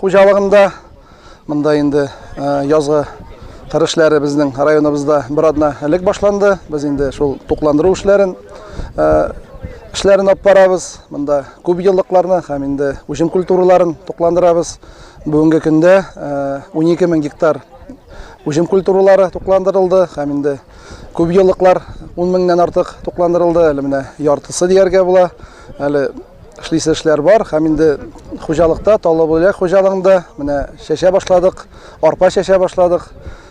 Хуҗалыгында монда инде язгы кыр эшләре безнең районыбызда бер атна элек башланды. Без инде шул тукландыру эшләрен эшләрен алып барабыз. Монда күп еллыкларны һәм инде үҗем культураларын тукландырабыз. Бүгенге көндә 12 мең гектар үҗем культуралары тукландырылды һәм инде күп еллыклар 10 меңнән артык тукландырылды. Әле менә яртысы дияргә була. Әле Эшлисе эшләр бар һәм инде хуҗалыкта, Таллыбүләк хуҗалыгында менә чәчә башладык, арпа чәчә башладык.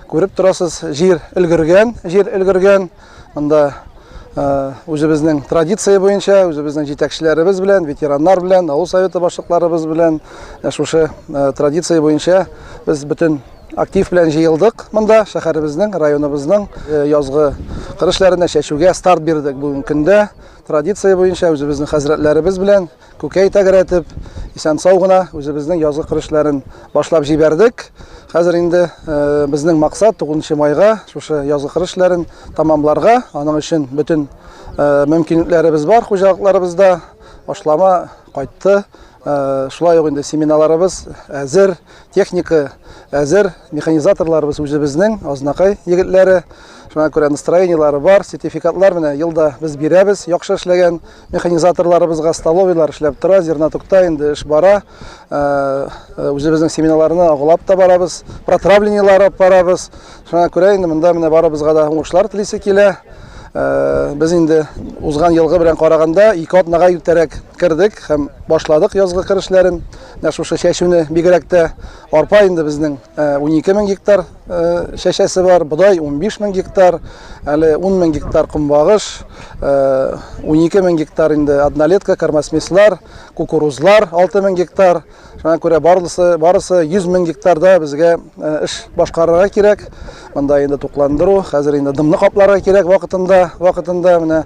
Күреп торасыз, җир өлгергән, җир өлгергән. Монда э, үзебезнең традиция буенча, үзебезнең җитәкчеләребез белән, ветераннар белән, авыл советы башлыкларыбыз белән э, шушы э, традиция буенча без бөтен актив белән җыелдык монда, шәһәребезнең, районыбызның язгы кыр эшләренә чәчүгә старт бирдек бүгенге көндә. Традиция буенча үзебезнең хәзрәтләребез белән күкәй тәгәрәтеп, исән-сау гына үзебезнең язгы кыр эшләрен башлап җибәрдек. Хәзер инде безнең максат 9 майга шушы язгы кыр эшләрен тәмамларга. Аның өчен бөтен мөмкинлекләребез бар хуҗалыкларыбызда. Ашлама кайтты. Э, шулай ук инде семиналарыбыз әзер техника әзер механизаторларыбыз үзебезнең азнакай егетләре шуңа күрә настроениелары бар сертификатлар менә елда без бирәбез яхшы эшләгән механизаторларыбызга столовыйлар эшләп тора зернотукта инде эш бара э, э, үзебезнең семинарларны агулап та барабыз протравлениелар алып барабыз шуңа күрә инде монда менә барыбызга да уңышлар телисе килә без инде узган елгы белән караганда ике атнага иртәрәк Кердек һәм башладык язгы кыр эшләрен. Менә шушы чәчүне бигрәк тә арпа инде безнең 12 э, мең гектар э, чәчәсе бар, бодай 15 мең гектар, әле 10 мең гектар кумбагыш, 12 э, мең гектар инде однолетка, кормосмеслар, кукурузлар 6 мең гектар. Шуңа күрә барысы, барысы 100 мең гектарда безгә эш башкарырга кирәк. Монда инде тукландыру, хәзер инде дымны капларга кирәк вакытында, вакытында менә